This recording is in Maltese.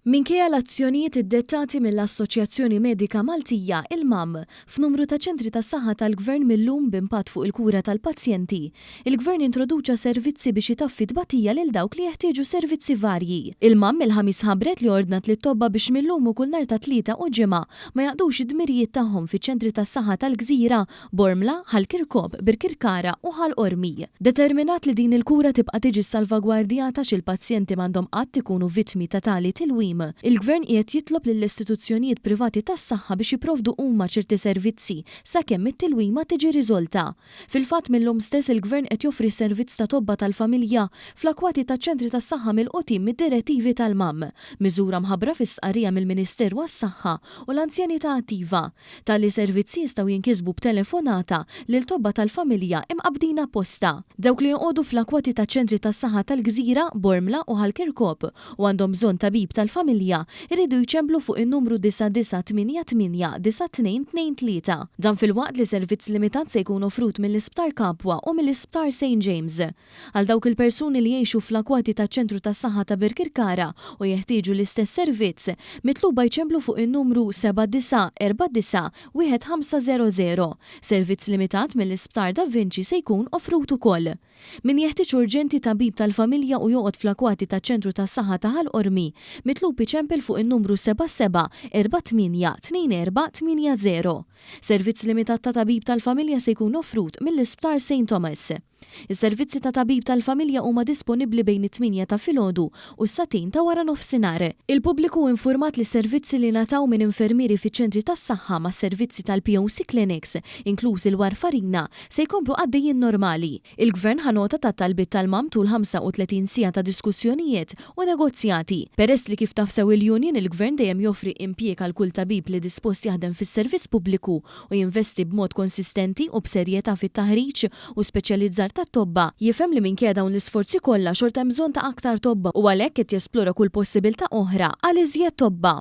Minkejja l-azzjonijiet iddettati mill-Assoċjazzjoni Medika Maltija, il-MAM, f'numru ta' ċentri tas-saħħa tal-Gvern mil-lum b'impatt fuq il-kura tal-pazjenti, il-Gvern introduċa servizzi biex itaffi t-tbatija lil dawk li jeħtieġu servizzi varji. Il-MAM il-Ħamis ħabbret li ordnat lit-tobba biex mil-lum u kull nhar tat-Tlieta u Ġimgħa ma jaqdux id-dmirijiet tagħhom fiċ-ċentri tas-saħħa tal-Gżira Bormla, Ħal Kirkop, Birkirkara u Ħal Qormi. Determinat li din il-kura tibqa' tiġi salvagwardjata xi l-pazjenti m'għandhom qatt ikunu vittmi ta' tali tilwim, il-Gvern qiegħed jitlob lill-istituzzjonijiet privati tas-saħħa biex jipprovdu huma ċerti servizzi sakemm it-tilwima tiġi riżolta. Fil-fatt mil-lum stess il-Gvern qed joffri s-servizz ta' tobba tal-familja fl-akwati taċ-ċentri tas-saħħa milqutin mid-direttivi tal-MAM, miżura mħabbra fi stqarrija mill-Ministeru għas-Saħħa u l-Anzjanità Attiva. Tali servizzi jistgħu jinkisbu b'telefonata lil tobba tal-familja imqabbdin apposta. Dawk li joqogħdu fl-akwati taċ-ċentri tas-saħħa tal-Gżira, Bormla u Ħal Kirkop u għandhom bżonn tabib tal-familja jridu jċemplu fuq in-numru 99889223. Dan filwaqt li servizz limitat se jkun offrut mill-Isptar Capua u mill-Isptar Saint James. Għal dawk il-persuni li jgħixu fl-akwati taċ-Ċentru tas-Saħħa ta' Birkirkara u jeħtieġu l-istess servizz, mitluba jċemplu fuq in-numru 79491500. Servizz limitat mill-Isptar Da Vinci se jkun offrut ukoll. Min jeħtieġ urġenti tabib tal-familja u joqgħod fl-akwati taċ-Ċentru tas-Saħħa ta' Ħal Qormi, mitlub iċempel fuq in-numru 77482480. Servizz limitat ta' tabib tal-familja se jkun offrut mill-Isptar Saint Thomas. Is-servizzi ta' tabib tal-familja huma disponibbli bejn it-tmienja ta' filgħodu u s-sagħtejn ta' wara nofsinhar. Il-pubbliku hu infurmat li s-servizzi li ngħataw minn infermieri fiċ-ċentri tas-saħħa mas-servizzi tal-POC clinics, inkluż il-warfarina, se jkomplu għaddejjin normali. Il-Gvern ħa nota tat-talbiet tal-MAM tul 35 siegħa ta' diskussjonijiet u negozjati. Peress li kif taf sew il-union, il-Gvern dejjem joffri impjieg għal kull tabib li dispost jaħdem fis-servizz pubbliku u jinvesti b'mod konsistenti u b'serjetà fit-taħriġ u speċjalizzar tat-tobba, jifhem li minkejja dawn l-isforzi kollha xorta hemm bżonn ta' aktar tobba u għalhekk qed jesplora kull possibiltà oħra għal iżjed tobba.